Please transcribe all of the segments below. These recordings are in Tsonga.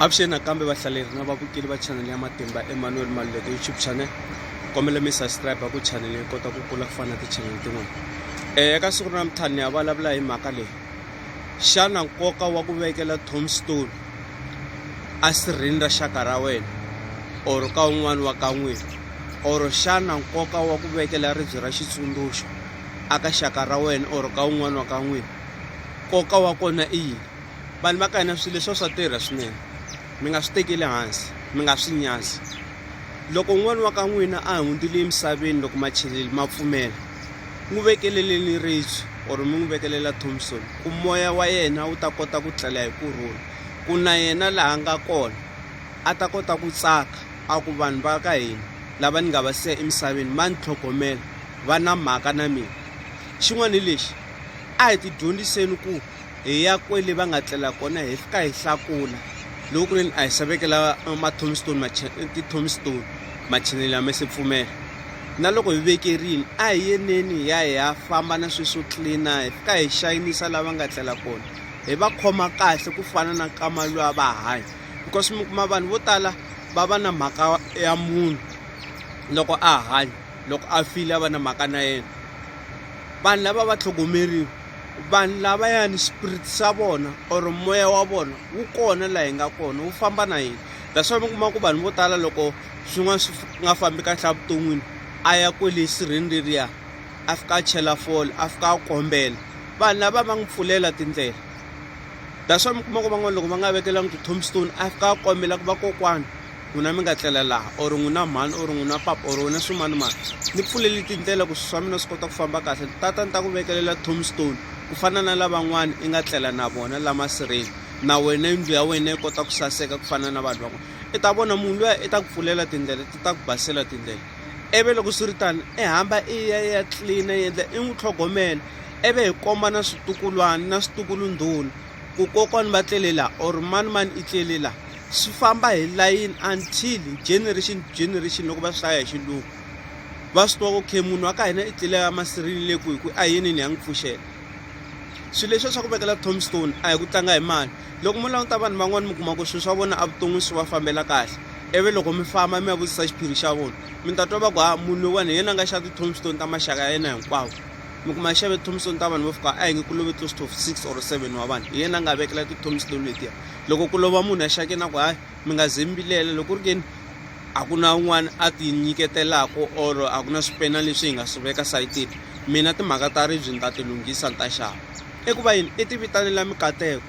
avuxeni nakambe vahlaleri na vavukeli va chanele ya matimba emmanuel maluleke youtube channel kombela mi subscribe ku chanele yi kota ku kula ku fana na tichanele tin'wana um eh, eka siku ra namuntlha ni ya vulavula hi mhaka leyi xana nkoka wa ku vekela tomstone asirhini ra xaka ra wena or ka un'wana wa ka n'wina or xana nkoka wa ku vekela ribye ra xitsundzuxo aka xaka ra wena or ka un'wana wa ka n'wina nkoka wa kona i yini vanhu va ka hina swilo leswi swa tirha swinene mi nga swi tekeli hansi mi nga swi nyazi loko un'wana wa ka n'wina a hundzile emisaveni loko macheleli ma pfumela n'wi vekeleleni ribye or mi n'wi vekelela thompson ku moya wa yena wu ta kota ku tlela hi kurhula ku na yena laha nga kona a ta kota ku tsaka a ku vanhu va ka hina lava ni nga va siya emisaveni va ni tlhogomela va na mhaka na mina xin'wana hi lexi a hi ti dyondziseni ku hi ya kwele va nga tlela kona hi fika hi hlakula loko ku leni a hi xavekela ma-tomstone ti-tomstone machinelo ya me se pfumela na loko hi vekerini a hi yeneni hi ya hi ya famba na swilo swo tlilina hi fika hi xayinisa lava nga tlela kona hi va khoma kahle ku fana na kama lwa va hanya because mi kuma vanhu vo tala va va na mhaka ya munhu loko a hanya loko a file a va na mhaka na yena vanhu lava va tlhogomeriwa vanhu lavayani spirit swa vona or moya wa vona wu kona laha hi nga kona wu famba na hina that's why mi kuma ku vanhu vo tala loko swin'wana swi nga fambi kahle evuton'wini a ya kwele sirheni leriya a fika a chela fole a fika a kombela vanhu lava va n'wi pfulela tindlela that's why mi kuma ku van'wana loko va nga vekelangi ti-tombstone a fika a kombela ku va kokwana N'wina mi nga tlela laha, or n'wina mhani, or n'wina papa, or wena swimanimani, ni pfuleli tindlela ku swi swa mina swi kota ku famba kahle, ni tata ni ta ku vekelela tombstone ku fana na lavan'wana i nga tlela na vona la masirheni, na wena yindlu ya wena yi kota ku saseka ku fana na vanhu van'wana. I ta vona munhu luya i ta ku pfulela tindlela, ti ta ku basela tindlela. Ivi loko swi ri tano i hamba i ya ya tlilina i endla i n'wi tlhogomela, ivi hi kombana switukulwana na switukulundhuna. ku kokwani va tlele la or mani mani i tlele la swi famba hi layini until generation to generation loko va swi hlaya hi xilungu va swi tiva ku khe munhu wa ka hina i tlele ya masirini le ku hi ku a yenini ya n'wi pfuxela swilo leswi swa ku vekela tombstone a hi ku tlanga hi mali loko mo languta vanhu van'wani mi kuma ku swilo swa vona a vuton'wini swi va fambela kahle ivi loko mi famba mi ya vutisa xiphiri xa vona mi ta twa va ku ha munhu loyiwani hi yena a nga xa ti-tombstone ta maxaka ya yena hinkwawo mi kuma a xave tombstone ta vanhu vo fika a hi nge ku love close to six or seven wa vanhu hi yena a nga vekela ti-tombstone letiya loko ku lova munhu a xake na ku hayi mi nga ze mi vilela loko ri keni a ku na un'wana a ti nyiketelaka or a ku na swipena leswi hi nga swi veka sayitini mina timhaka ta ribyi ni ta ti lunghisa ni ta xava i ku va yini i ti vitanela mikateko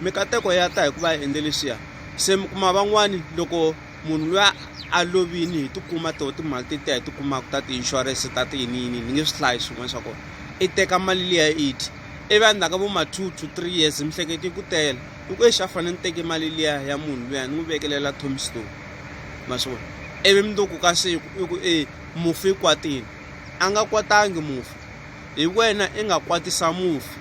mikateko ya ta hi ku va endle leswiya se mi kuma van'wani loko munhu loyi a lovini hi tikuma toho timali ti tiya hi tikumaka ta ti-insurance ta ti yini yini ni nge swi hlayi swin'wana swa kona i teka mali liya i dyi ivi a ndzhaku ka vo ma two to three years miehleketo yi ku tele i ku exi a fanele ni teke mali liya ya munhu luya ni n'wi vekelela tombstone ma swi vona ivi mundzuku ka siku i ku e mufi i kwatile a nga kwatangi mufi hi wena i nga kwatisa mufi.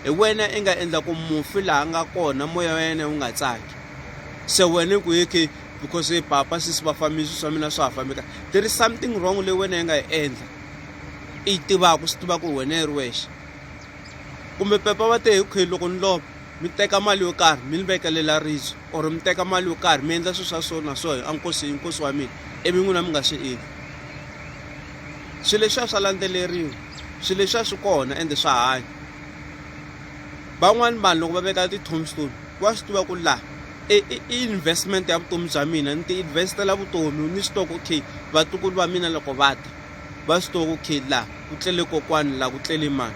hi wena i nga endla ku mufi laha a nga kona moya wa yena wu nga tsaki se wena ku hi khe because e papa sisi va fambisi swa mina swa ha fambi kahle there is something wrong leyi wena yi nga yi endla i yi tivaka swi tiva ku wena yi ri wexe kumbe pepa va te hi khe loko ni lova mi teka mali yo karhi mi ni vekelela rizo or mi teka mali yo karhi mi endla swilo swa so na so a nkosi i nkosi wa mina ivi n'wina mi nga swi endli swilo leswiya swa landzeleriwa swilo leswiya swi kona ende swa hanya van'wani vanhu loko va veka ti-tombstone wa swi tiva ku laha i investment ya vutomi bya mina ni ti investela vutomi ni swi tivaka okay vatukulu va mina loko va ta va swi tivaka okay laha ku tlele kokwani laha ku tlele mani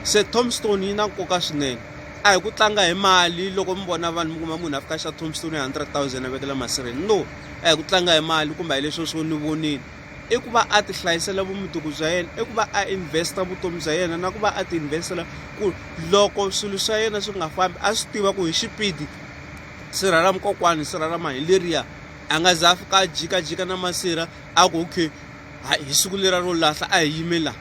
se tombstone yi na nkoka swinene a hi ku tlanga hi mali loko mi vona vanhu mi kuma munhu a fika xa tombstone hundred thousand a vekela masirheni no a hi ku tlanga hi mali kumbe a hi leswi swo ni vonile i ku va a ti hlayisela vumundzuku bya yena i ku va a investa vutomi bya yena na ku va a ti investela ku loko swilo swa yena swi nga fambi a swi tiva ku hi xipidi sirha ra mukokwani sirha ra mani leriya a nga za a fika a jikajika na masirha a ku okay hi siku lera ro lahla a hi yimela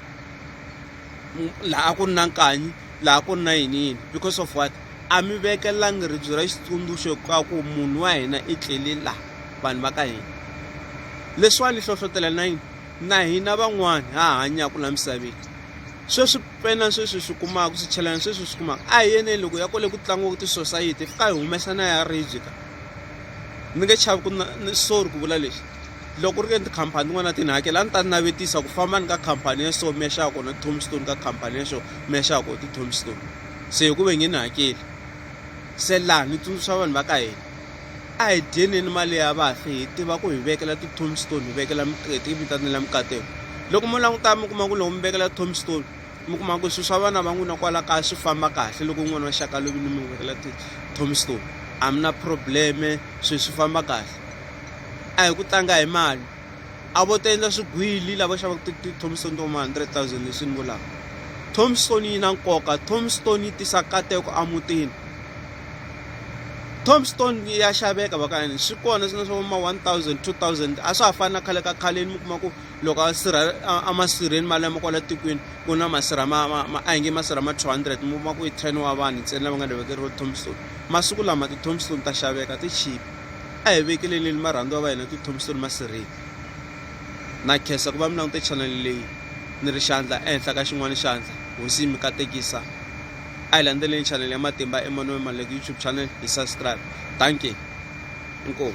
laha ku ri na nkanyi laha ku ri na yini yini because of what a mi vekelangi ribye ra xitsundzuxo ka ku munhu wa hina i tlele la vanhu va ka hina leswiwani hlohlotela na yini na hina van'wani ha hanyaka la misaveni sweswi pena sweswi swi kumaka swi chelana sweswi swi kumaka a hi yeneni loko ya kole ku tlangiwaka tisosayiti fika hi humesa na ya ribye ka ni nge chavi ku na sorry ku vula lexi Loko ku ri ke ni tikhampani tin'wana a ti ni hakela a ni ta navetisa ku famba ni ka khampani ya so mi ya xava kona ti-tombstone ka khampani ya so mi ya xava kona ti-tombstone se ku ve nge ni hakeli se laha ni tsundzuxa vanhu va ka hina a hi dyeneni mali ya vafi hi tiva ku hi vekela ti-tombstone hi vekela miqeti yi vitanela mikateko loko mo languta mi kuma ku loko mi vekela tombstone mi kuma ku swilo swa vana va n'wina kwala kaya swi famba kahle loko n'wana wa xaka lovini mi vekela ti-tombstone a mi na probleme swilo swi famba kahle a hi ku tlanga hi mali a vo ta endla swigwili lava xavaka ti-thompson to ma 100 000 leswi ni vulaka thompson yi na nkoka thompson yi tisa kateko emutini tombstone ya xaveka vakayani swi kona swina swa ma 1000 2000 a swa ha fani na khale ka khaleni mi kuma ku loko a sirha amasirheni mali lama kwala tikweni ku na masirha ma ma a hi nge masirha ma 200 mi kuma ku i 10 wa vanhu ntsena lava nga ni vekeriwa tombstone masiku lama ti-tombstone ta xaveka ti chipa A hi vekeleleni marhandziwa va hina Tithomisoni Masiriti na khensa ku va mi langute chanele leyi ni ri xandla ehenhla ka xin'wana xandla hosi yi mi katekisa a hi landzeleni chanele ya matimba Emmanuel Maluleke YouTube channel hi subscribe danke inkomu